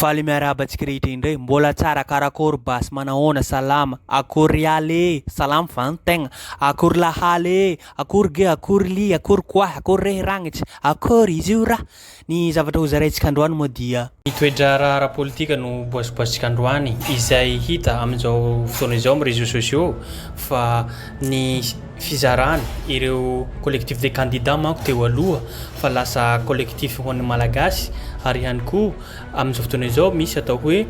Faly miarahaba antsika rehetra indray. Mbola tsara karakôry basy manahoana salama akory ialy ee salama va ny tegna akory lahaly ee akory ge akory lia akory koahy akory rehy ragnitsa akory izy io ra ny zavatra ho zaraintsika androany moa dia Ny toe-draharaha ara-politika no boasiboasintsika androany izay hita amin'izao fotoana izao amin'ny réseaux sociaux fa ny fizarana, ireo collectif des candidats manko teo aloha fa lasa collectif ho an'ny Malagasy ary ihany koa amin'izao fotoana izao misy atao hoe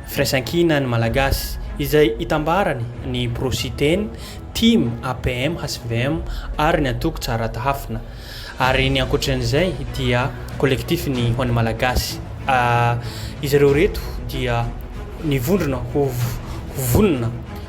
firaisankina ny Malagasy izay itambarany ny pro Siteny, tim, APM, hvm ary ny antoko Tsara Tahafina ary ny ankoatran'izay dia collectif ny ho an'ny Malagasy ah izy ireo ireto dia nivondrona ho vonona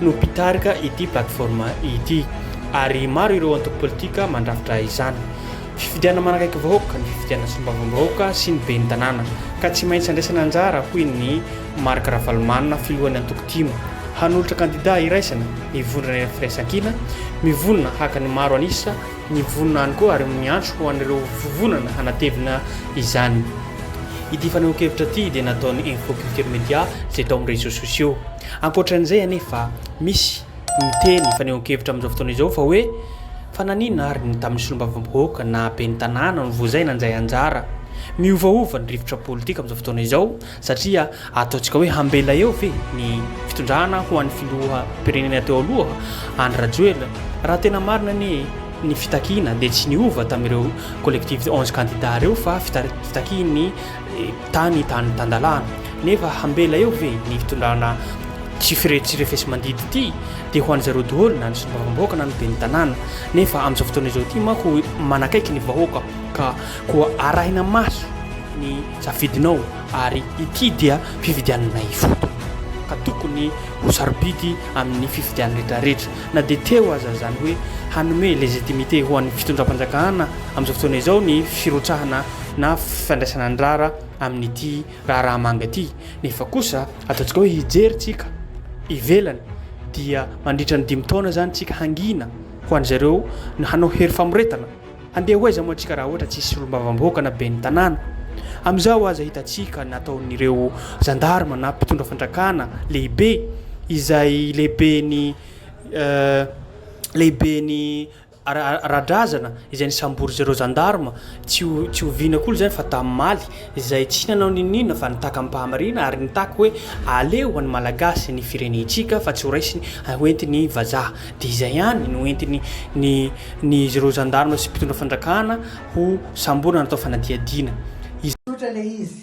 no mpitarika ity plateforme ity ary maro ireo antoko politika mandrafitra izany. Fifidianana manakaiky vahoaka ny fifidianana sombavambahoaka sy ny ben'ny tanàna ka tsy maintsy andraisana anjara hoy ny Marc Ravalomanana filohan'ny antoko tim hanolotra kandida iraisana ny vondrona iray firaisankina mivonona haka ny maro an'isa ny vonona any koa ary miantso ho an'ireo vovonana hanatevina izany. Ity fanehoan-kevitra ity dia nataon'ny Info Culture Media izay tao amin'ny réseaux sociaux. Ankoatran'izay anefa, misy miteny fanehoan-kevitra amin'izao fotoana izao fa hoe fa nanina ary ny tamin'ny solombavambahoaka na ben'ny tanàna no vozay nanjay anjara? Miovaova ny rivotra politika amin'izao fotoana izao satria ataontsika hoe hambela eo ve ny fitondrana ho an'ny filoham-pirenena teo aloha Andry Rajoelina? Raha tena marina anie ny fitakiana dia tsy niova tamin'ireo collectivités onze candidats ireo fa fitakian'ny tany tany tandalana nefa hambela eo ve ny fitondrana tsy fire tsy refesimandidy ity dia ho an'izareo doholy na ny solombavambahoaka na ny ben'ny tanàna nefa amin'izao fotoana izao ity mako manakaiky ny vahoaka ka koa arahina maso ny safidinao ary ity dia fifidianana ifoto ka tokony ho sarobidy amin'ny fifidianana retraretra na dia teo aza zany hoe hanome legitimité ho an'ny fitondram-panjakana amin'izao fotoana izao ny firotsahana na fifandraisana andrara amin'ity raharaha manga ity nefa kosa ataontsika hoe hijery tsika ivelany dia mandritra ny dimy taona zany tsika hangina ho an'zareo na hanao hery famoretana handeha ho aiza moa tsika raha ohatra tsisy solombavamboaka na ben'ny tanàna amizao aza hitatsika nataon'ireo zandarma na mpitondra fandrakana lehibe izay lehibe ny euh, lehibe ny ara-drazana izay nisambory zereo zandarma tsy ho tsy ho vina koa izany fa damimaly izay tsy nanao n'inon'inona fa nitaky amim-pahamariana ary nitaky hoe aleo ho an'ny malagasy ny firenentsika fa tsy ho raisiny ho entin'ny vazaha dia izay ihany no entiny ny ny zereo zandarma sy mpitondra fandrakana ho samborina natao fanadihadiana izay Tsotra ilay izy.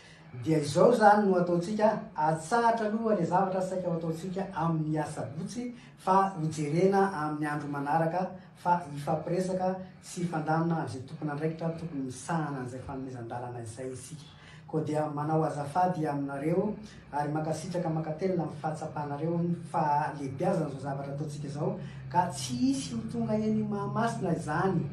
Dia izao izany no ataontsika, atsahatra aloha ilay zavatra saika ho ataontsika amin'ny asabotsy fa hojerena amin'ny andro manaraka fa hifampiresaka sy hifandamina amin'izay tompon'andraikitra tokony misahana an'izay fanomezan-dalana izay isika. Koa dia manao azafady aminareo ary mankasitraka mankatelina amin'ny fahatsapanareo ny fahalehibeazan'izao zavatra ataontsika izao, Ka tsy hisy ho tonga eny Mahamasina izany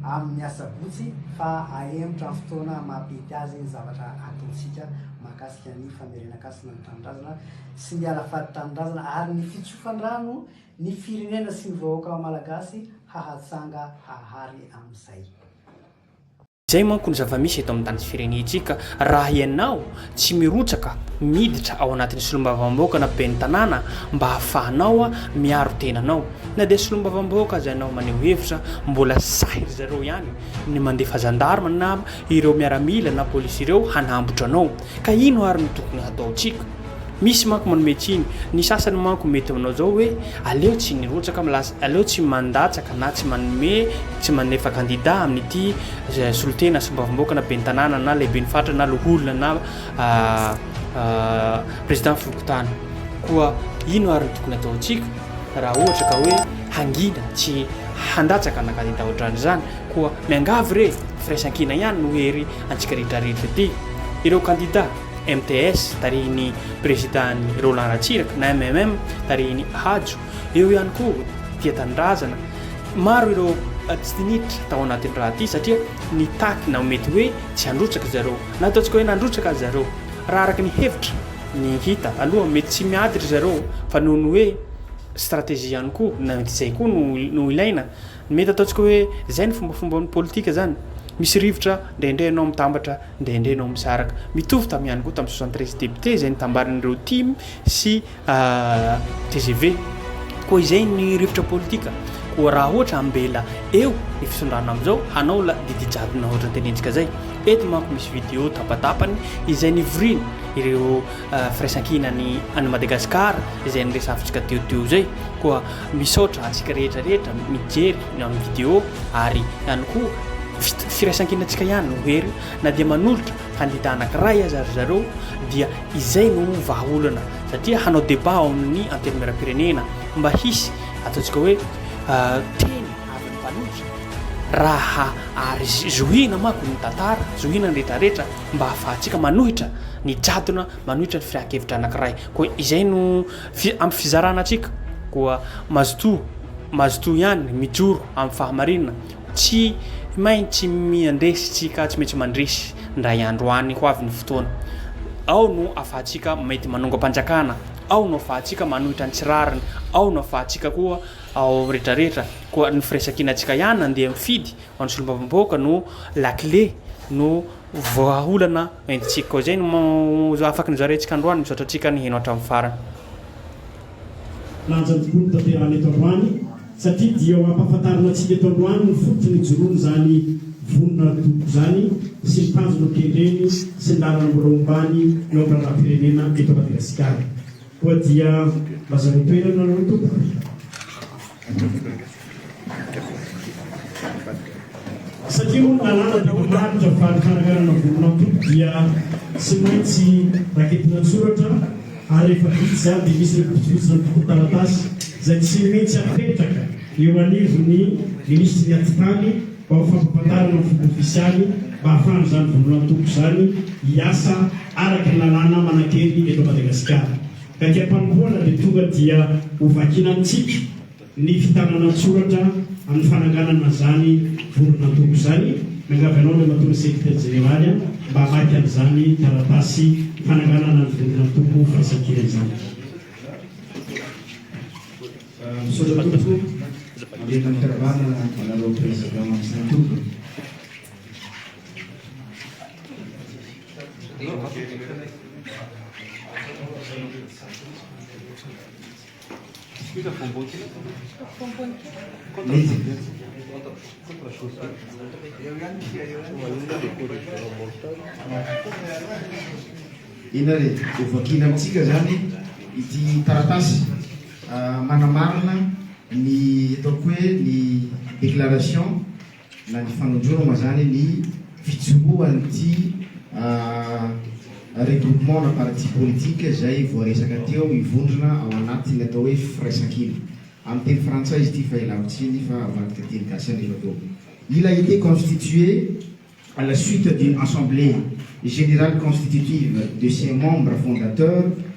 amin'ny asabotsy fa ahemotra amin'ny fotoana maha-pety azy ny zavatra ataontsika mahakasika ny famerenan-kasina ny tanindrazana sy ny alafady tanindrazana ary ny fitsofan-drano ny firenena sy ny vahoaka malagasy hahatsanga hahary amin'izay. Izay manko ny zava-misy eto amin'ny tany sy firenentsika, raha ianao tsy mirotsaka miditra ao anatin'ny solombavambahoaka na ben'ny tanàna mba hahafahanao miaro tena anao, na dia solombavambahoaka aza ianao maneho hevitra, mbola sahy ry zareo ihany ny mandefa zandarma na ireo miaramila na polisy ireo hanambotra anao. Ka ino ary no tokony hataontsika? Misy manko manome tsiny. Ny sasany manko mety manao izao hoe, aleo tsy nirotsaka am lasa, aleo tsy mandatsaka na tsy manome, tsy manefa kandida amin'ity solontena, solombavambahoaka na ben'ny tanàna na lehiben'ny faritra na loholona na président fokontany. Koa ino ary no tokony hataontsika raha ohatra ka hoe hangina tsy handatsaka na kandida ohatran'izany? Koa miangavy re, firaisankina ihany no hery antsika rehetra rehetra ity. Ireo kandida, MTS, tarihin'ny Prezidany Roland Ratsiraka, na MMM, tarihin'i Hajo, eo ihany koa Tia Tanindrazana, maro ireo tsy diniditra tao anatin'ny raha ity satria nitaky na mety hoe tsy handrotsaka zareo, na ataontsika hoe nandrotsaka aza zareo. Raha araka ny hevitra, ny hita aloha mety tsy miady ry zareo fa noho ny hoe stratégie ihany koa, na mety izay koa no ilaina. Ny mety ataontsika hoe zay ny fombafomban'ny politika zany. Misy rivotra, ndraindray ianao mitambatra, ndraindray ianao misaraka. Mitovy tam ihany koa tam soixante treize députés izay nitambarin'ireo tim sy tgv. Koa izay ny rivotra politika. Koa raha ohatra ambela eo ny fisondrana amizao hanao la didy jadona ohatra ny tenentsika zay. Eto manko misy video tapatapany izay nivorin ireo firaisankinany any Madagascar izay niresafintsika teo teo zay. Koa. Misaotra antsika rehetra rehetra mijery ny amin'ny video ary ihany koa firaisankinantsika ihany no hery na dia manolotra kandida anakiray aza ry zareo dia izay no vahaolana satria hanao deba ao amin'ny antenimieram-pirenena mba hisy ataontsika hoe euh, teny avy ny mpanotra raha ary zohina mako ny tantara zohina ny retraretra mba hahafahantsika manohitra ny jadona manohitra ny firakevitra anakiray koa izay no Fi, ampy fizarana antsika koa mazotoa, mazotoa ihany mijoro amin'ny fahamarinana, tsy main tsy miandresy tsika, tsy maintsy mandresy ndray andro any ho avy ny fotoana, ao no afahantsika mety manongam-panjakana, ao no afahantsika manohitra ny tsy rariny, ao no afahantsika koa ao amin'ny retraretra, koa ny firaisan-kinantsika ihany andeha mifidy ho an'ny solombavambahoaka no lakile, no. Vahaolana entintsika koa izay no afaky nozaraintsika androany. Misaotra antsika niheno hatramin'ny farany. Lanja tokoa ny tanterahana eto androany satria dia ho ampahafantarina antsika eto androany ny fototry ny hijoroany izany vonona ara-toloko izany sy ny tanjona hokendreny sy ny lalana mbola hombany eo amin'ny raharaham-pirenena eto Madagasikara. Koa dia lazareo toerana nareo tompoko. Satria moa ny lalàna dia manaritra fa ny fananganana volon'antoko dia tsy maintsy raketina an-tsoratra ary rehefa vita izany dia misy ny fotofotsiny antontan-taratasy izay tsy maintsy apetraka eo anivon'ny Minisitry ny Atitany mba ho fampahafantarana amin'ny fomba ofisialy mba hahafahan'izany volon'antoko izany hiasa araka ny lalàna manan-kery eto Madagasikara. Haingam-panompoana dia tonga dia ho vakina amintsika ny fitanana an-tsoratra amin'ny fananganana an'izany voron'antoko izany. Miangavy anao Andriamatoa ny Sekretera Jeneraly an, mba hamaky an'izany taratasy fananganana ny voron'antoko firaisankina izany. Misaotra tompoko, mamerina ny fiarahabana anareo Président sy ny antoko. Inona re? Ho vakiana amintsika izany ity taratasy manamarina ny ataoko hoe ny déclaration. na ny fanondroana moa zany ny fijoroan'ity regroupement na parti politique izay voaresaka teo hivondrona ao anatin'ny atao hoe firaisankina. Amin'ny teny frantsay izy ity fa ialako tsiny fa avadika teny gasy anefa koa. Il a été constitué à la suite d'une assemblée générale constitutive de ses membres fondateurs,